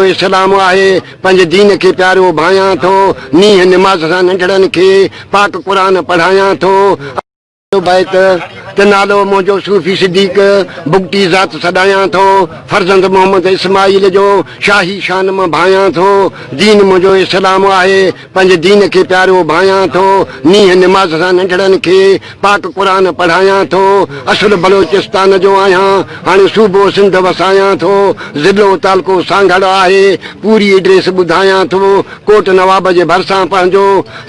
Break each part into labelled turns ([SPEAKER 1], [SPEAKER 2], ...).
[SPEAKER 1] اسلام آهي پنهنجي دين کي پيارو ڀانيان ٿو نينهن نماز سان ننڍڙن کي پاڪ قرآن پڙهايان ٿو اهو پنهنجو بيت ته نالو منهنجو صوفي صديق بگٽي ذات سڏايان ٿو فرزند محمد اسماعيل جو شاهي شان مان ڀانيان ٿو دين منهنجو اسلام آهي پنهنجي دين کي پيارو ڀانيان ٿو، نينهن نماز سان ننڍڙن کي پاڪ قرآن پڙهايان ٿو، اصل بلوچستان جو آهيان، هاڻي صوبو سنڌ وسايان ٿو، ضلعو تعلقو سانگهڙ آهي، پوري ايڊريس ٻڌايان ٿو، ڪوٽ نواب جي ڀرسان پنهنجو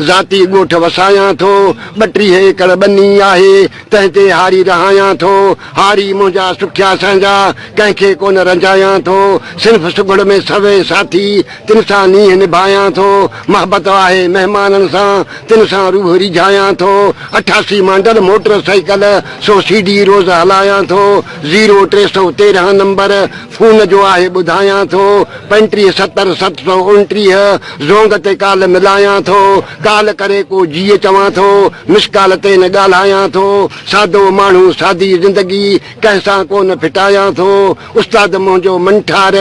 [SPEAKER 1] ذاتي ڳوٺ وسايان ٿو، ٻٽيهه ايڪڙ ٻني آهي، تنهن تي هاري رهايان ٿو، هاري منهنجا سکيا سهنجا، ڪنهن کي ڪونه رنجايان ٿو، صنف سگهڙ ۾ سوين ساٿي، تن سان نينهن نڀايان ٿو، محبت آهي مهمانن سان، تن سان روح ريجهايان ٿو، اٺاسي مانڊل موٽر سائيڪل سو سي ڊي روز هلايان ٿو، زيرو ٽي سؤ تيرهن نمبر فون جو آهي ٻڌايان ٿو، پنٽيهه ستر ست سؤ اڻٽيهه زونگ تي ڪال ملايان ٿو، ڪال ڪري ڪو جيء چوان ٿو، مس ڪال تي نه ڳالهايان ٿو، سادو ماڻهو سادي زندگي ڪنهن سان ڪو نه ڦٽايان ٿو، استاد منهنجو منٺار،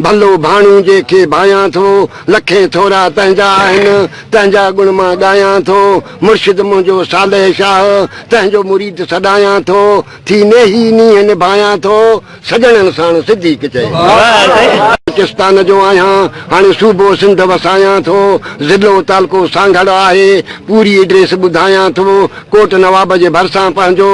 [SPEAKER 1] ڀلو ڀاڻو جي کي ڀانيان ٿو، لکين ٿورا تنهنجا آهن، تنهنجا گڻ مان ڳايان ٿو، مرشد منهنجو صالح شاهه، تنهنجو مريد سڏايان ٿو، ٿي نيهي نينهن نڀايان ٿو، سڄڻن ساڻ صديق چئي. بلوچستان جو آهيان، هاڻي صوبو سنڌ وسايان ٿو، ضلعو تعلقو سانگهڙ آهي، پوري ايڊريس ٻڌايان ٿو، ڪوٽ نواب جي ڀرسان پنهنجو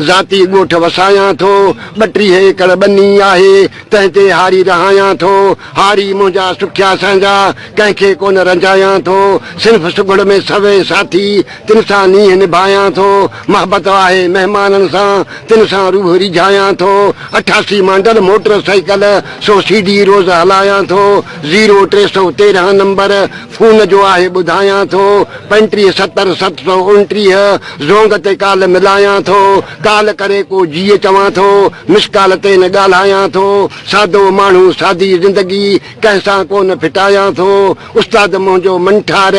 [SPEAKER 1] ذاتي ڳوٺ وسايان ٿو. ٻٽيهه ايڪڙ ٻني آهي، تنهن تي هاري رهايان ٿو. هاري منهنجا سکيا سهنجا، ڪنهن کي ڪونه رنجايان ٿو. صنف سگهڙ ۾ سوين ساٿي، تن سان نينهن نڀايان ٿو. محبت آهي مهمانن سان، تن سان روح ريجهايان ٿو. اٺاسي مانڊل موٽر سائيڪل سو سي ڊي روز هلايان ٿو. زيرو ٽي سؤ تيرهن نمبر. فون جو آهي ٻڌايان ٿو، پنٽيهه ستر ست سؤ اڻٽيهه، زونگ تي ڪال ملايان ٿو، ڪال ڪري ڪو جيء چوان ٿو، مس ڪال تي نه ڳالهايان ٿو، سادو ماڻهو سادي زندگي، ڪنهن سان ڪو نه ڦٽايان ٿو، استاد منهنجو منٺار،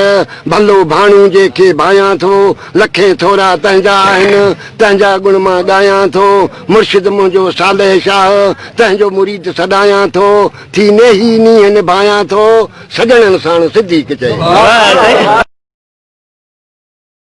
[SPEAKER 1] ڀلو ڀاڻو جنهن کي ڀايان ٿو، لکين ٿورا تنهنجا آهن، تنهنجا ڳڻ مان ڳايان ٿو، مرشد منهنجو صالح شاهه، تنهنجو مريد سڏايان ٿو، ٿي نيهي نينهن نڀايان ٿو، سڄڻن ساڻ صديق چئي.